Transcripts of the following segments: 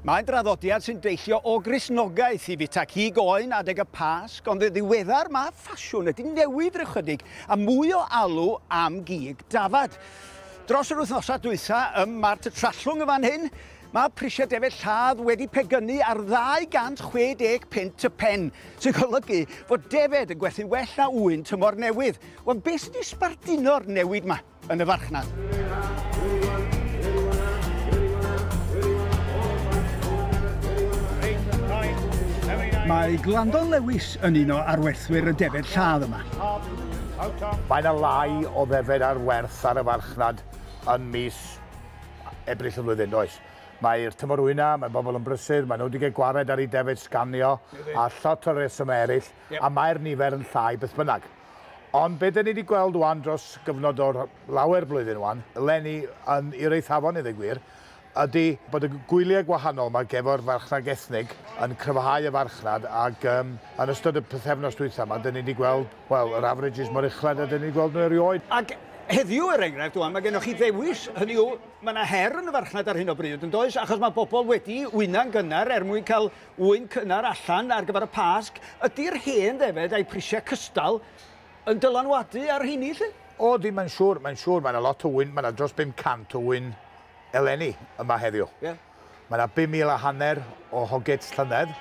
Mae'n draddodiad sy'n deillio o Gristnogaeth i fita cig oen adeg y Pasg, ond yn ddiweddar mae ffasiwn wedi newid rychydig a mwy o alw am gig dafad. Dros yr wythnosau dwytha ym Mart y Trallwng yn fan hyn, mae prisiau defaid lladd wedi pegynnu ar 260 punt y pen, sy'n golygu fod defaid yn gwerthu'n well na ŵyn tymor newydd. Wel, beth sydd wedi sbarduno'r newid yma? yn y farchnad. Mae Glandon Lewis yn un o arwerthwyr y defed lladd yma. Mae yna lai o ddefed ar werth ar y farchnad yn mis Ebrill y flwyddyn, does? Mae'r tymor wyna, mae bobl yn brysur, maen nhw wedi cael gwared ar ei defed sganio a llot o resymau eraill, a mae'r nifer yn llai beth bynnag. Ond be dan ni wedi gweld wan dros gyfnod o'r lawer blwyddyn wan, eleni yn Yr Eithafon i ddweud gwir, ydy bod y gwyliau gwahanol ma gefo'r farchnad ethnig yn cryfhau y farchnad ac yym yn ystod y pythefnos dwytha ma dan ni wedi gweld, wel, yr averages mor uchled a dan ni wedi gweld nhw erioed. Ac heddiw, er enghraifft, wan ma gennoch chi ddewis, hynny yw, ma na her yn y farchnad ar hyn o bryd, yn does, achos ma bobl wedi wyna'n gynnar er mwyn cael Ŵyn cynnar allan ar gyfer y Pasg, ydi'r hen ddefed a'i prisiau cystal yn dylanwadu ar rheiny 'lly? O ydi, mae'n siŵr, mae'n siŵr, mae 'na lot o ŵyn, mae 'na dros 500 o ŵyn eleni yma heddiw. Ie. Mae 'na 5,000 a hanner o hogets llynedd,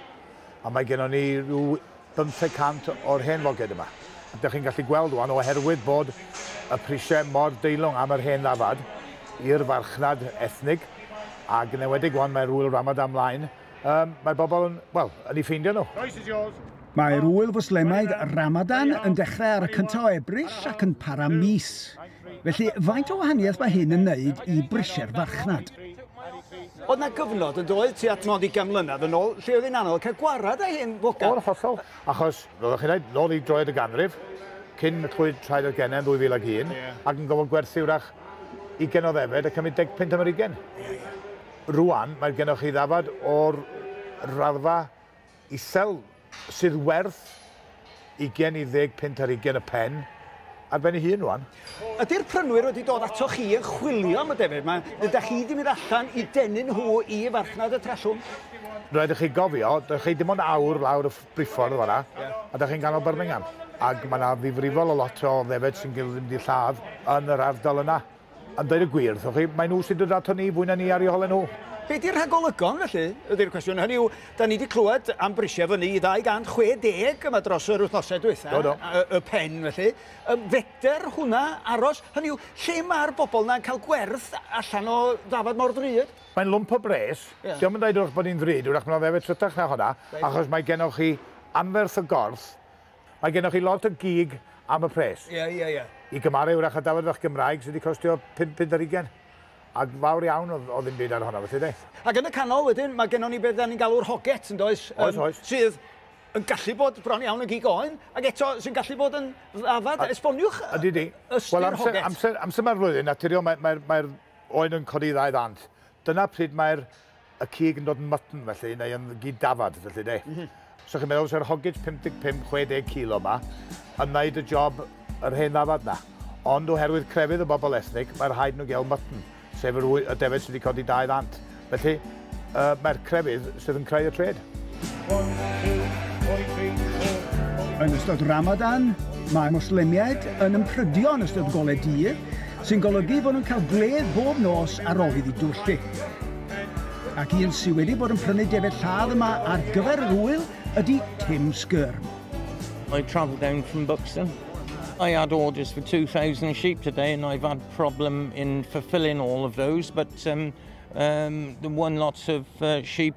a mae gennon ni rhyw 500 o'r hen foged yma. A dych chi'n gallu gweld ŵan, oherwydd bod y prisiau mor deilwng am yr hen ddafad i'r farchnad ethnig, ac yn enwedig ŵan mae'r ŵyl Ramadan mlaen, Um, mae bobl yn, wel, yn ei ffeindio nhw. Royce is yours. Mae'r ŵyl fwslemaidd Ramadan yn dechrau ar y cyntaf o Ebrill ac yn para mis. Felly, faint o wahaniaeth mae hyn yn wneud i brisiau'r farchnad? Oedd na gyfnod yn doedd ti at nod i gan mlynedd yn ôl lle oedd hi'n anodd cael gwarad â hyn fogan? O'r hollol, achos, fel ydych chi'n dweud, nôl i droed y ganrif, cyn twyd traed yr genau yn 2001, yeah. ac yn gofod gwerthu wrach 20 o ddefed a cymryd 15 am yr 20. Yeah, yeah. Rŵan mae gennoch chi ddafad o'r raddfa isel sydd werth ugain i ddeg punt ar hugain y pen ar ben ei hun rŵan. Ydy'r prynwyr wedi dod atoch chi yn chwilio am y defnydd yma, neu dach chi 'di mynd allan i denu nhw i farchnad y Trallwng? Rhaid i chi gofio, dach chi dim ond awr lawr y briffordd fan'na, a dach chi'n ganol Birmingham, ac mae 'na ddifrifol o lot o ddefed sy'n gallu mynd i lladd yn yr ardal yna. A dweud y gwir wrthoch chi, mae nhw sy'n dod ato ni fwy na ni ar eu holau nhw. Be di'r rhagolygon felly, ydi'r cwestiwn. Hynny yw, da ni wedi clywed am brisiau fyny i 260 yma dros yr wythnosau diwetha, do, do. Y, y pen felly. Ym, feder hwnna aros, hynny yw, lle mae'r bobl yna'n cael gwerth allan o ddafad mor ddrud? Mae'n lwmp o bres. Yeah. Diolch yn dweud wrth bod ni'n ddrud, wrach mae'n fe trytach na hwnna, achos mae gennych chi anferth y gorth, Mae gennoch chi lot o gig am y pres. Ie, ie, ie. I gymaru wrach a dafod fach Gymraeg sydd wedi costio pum punt ar ugain. A fawr iawn o o ddim byd ar honno, felly de. Ac yn y canol wedyn, mae gennon ni beth dan ni'n galw'r hoget, yn does? Oes, Yym, oes. Sydd yn gallu bod bron iawn yn gig oen, ac eto sy'n gallu bod yn ddafad. Esboniwch y- Ydy, ydy. y- ystyr Wel, amser, hoget. amser, amser mae'r flwyddyn, naturiol, mae, mae'r, mae'r oen yn codi i ddau ddant. Dyna pryd mae'r y cig yn dod yn mutton felly, neu yn gyd dafad felly de. Mm -hmm. So chi'n meddwl, so'r hoggage 55-60 kilo yma yn wneud y job yr hen ddafad na. Ond oherwydd crefydd y bobl ethnig, mae rhaid nhw gael mutton, sef yr y defyd sydd wedi codi dau ddant. Felly, uh, mae'r crefydd sydd yn creu y tred. Yn ystod Ramadan, mae Mwslemiaid yn ymprydio yn ystod golau dydd, sy'n golygu bod nhw'n cael gwledd bob nos ar ôl iddi dwyllu. Ac un sydd wedi bod yn prynu defaid lladd yma ar gyfer yr ŵyl ydy Tim Skirm. I travel down from Buxton. I had orders for 2,000 sheep today and I've had problem in fulfilling all of those, but um, um, the one lots of uh, sheep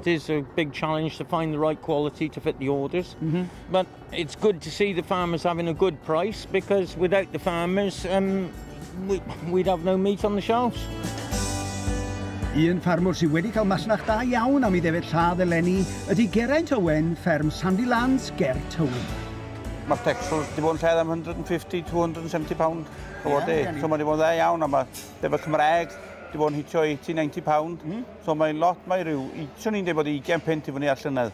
It is a big challenge to find the right quality to fit the orders. Mm -hmm. But it's good to see the farmers having a good price because without the farmers, um, we, we'd have no meat on the shelves. Un ffarmwr sydd wedi cael masnach da iawn am ei ddefyd lladd eleni ydy Geraint Owen, fferm Sandy Lands ger Tywi. Mae'r petrol wedi bod yn lled am 150-270 pound o yeah, day. So mae wedi bod yn dda iawn, a mae defyd Cymraeg wedi bod yn hitio 80-90 pound. Mm. So mae'n lot, mae rhyw, swn i'n dweud bod 20 punt i fyny ar llynedd.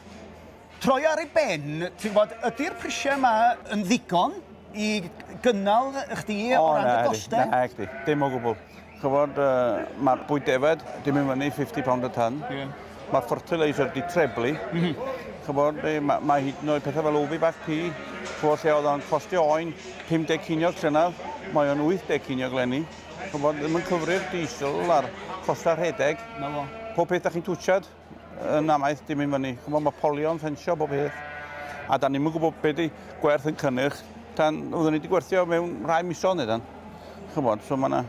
Troi ar ei ben, ti'n bod, ydy'r prisiau yma yn ddigon i gynnal chdi o, o ran dy gostau? Na, chdi, dim o gwbl. Chyfod, uh, mae'r bwyd defed, dim yn fyny 50 pound y tan. Yeah. Mae'r fertilizer di treblu. Mm -hmm. Chyfod, eh, mae, mae hyd yn oed pethau fel ofi bach pi, chwod lle oedd o'n costio oen 50 ciniog llynaf, mae o'n 80 ciniog lenni. chymod, ddim yn cyfrif diesel a'r costau rhedeg. Na fo. Pob peth da chi'n twtshad, yn amaeth dim yn fyny. Chymod, mae polion, ffensio, bob peth. A da ni'n gwybod beth di gwerth yn cynnyrch. Tan, oeddwn ni wedi gwerthio mewn rhai misodd neu dan. Chymod, so mae yna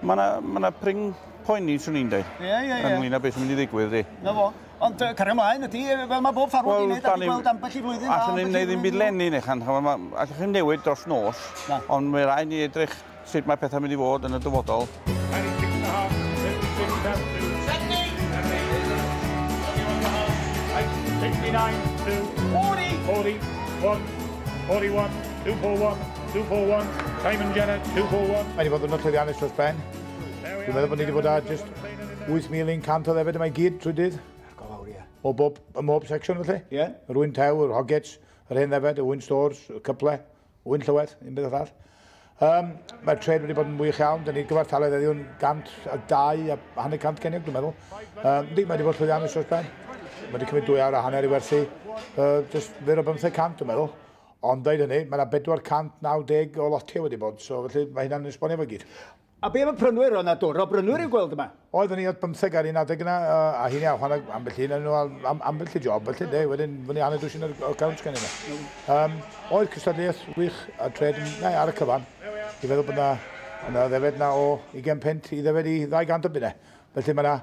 ma na, ma na pring poeni, swn i'n dweud. Ie, ie, ie. Ynglyn â beth sy'n mynd i ddigwydd, di. Na fo. Ond uh, cario ymlaen ydy, fel mae bob ffarwr well, wedi'i gwneud, a gweld ambell i flwyddyn. Allwn ni'n gwneud ddim byd lenni, neu chan. Allwch chi'n newid dros nos, ond mae rhaid ni edrych sut mae pethau'n mynd i fod yn y dyfodol. Mae 'di bod yn ddiwrnod llwyddiannus dros ben. Dwi'n meddwl bod ni 'di bod â jyst 8,100 o ddefyd yma i gyd trwy dydd. Go fawr, ie. O bob, ym mhob section felly? Ie. Yr ŵyn tew, yr hogets, yr hen ddefed, y ŵyn stores, y cyple, Wy'n llywed, un beth arall. Um, Mae'r tred wedi bod yn wych iawn. Dyna ni'r gyfartaledd eddiw'n 102 a hanner 100 cenig, dwi'n meddwl. Um, di, mae wedi bod llwyddiannus dros ben. Mae wedi cymryd dwy awr a hanner i werthu. Uh, just fyr o bymthau cant, dwi'n meddwl. Ond dweud hynny, mae yna 490 o lotiau wedi bod, so felly mae hynna'n esbonio fo gyd. A be am y prynwyr? Oedd na dwr o brynwyr i'w gweld yma? Oedd ni oedd bymtheg ar un adeg yna, a hyn iawn, chwarae ambell un, nhw ambell i job, felly de, wedyn fyny hanner dwsin ar y cawnt gan yna. Um, oedd cystadleuaeth wych a tred yn, na, ar y cyfan. I feddwl bod yna, yna ddefed na o 20 pent i ddefed i 200 o bunau. Felly mae yna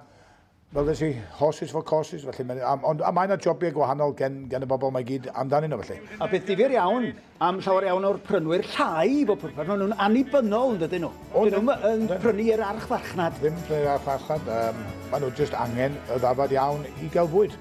fel ddes i, horses for courses, felly mae'n... a, ond, a mae yna jobiau gwahanol gen, gen y bobl mae gyd amdanyn nhw, felly. A beth difyr iawn am llawer iawn o'r prynwyr llai i bob pwrpas, maen nhw'n annibynnol yn dydyn nhw. O, Dyn nhw'n yn prynu i'r archfarchnad. Ddim prynu i'r archfarchnad, um, maen nhw jyst angen y ddafad iawn i gael bwyd.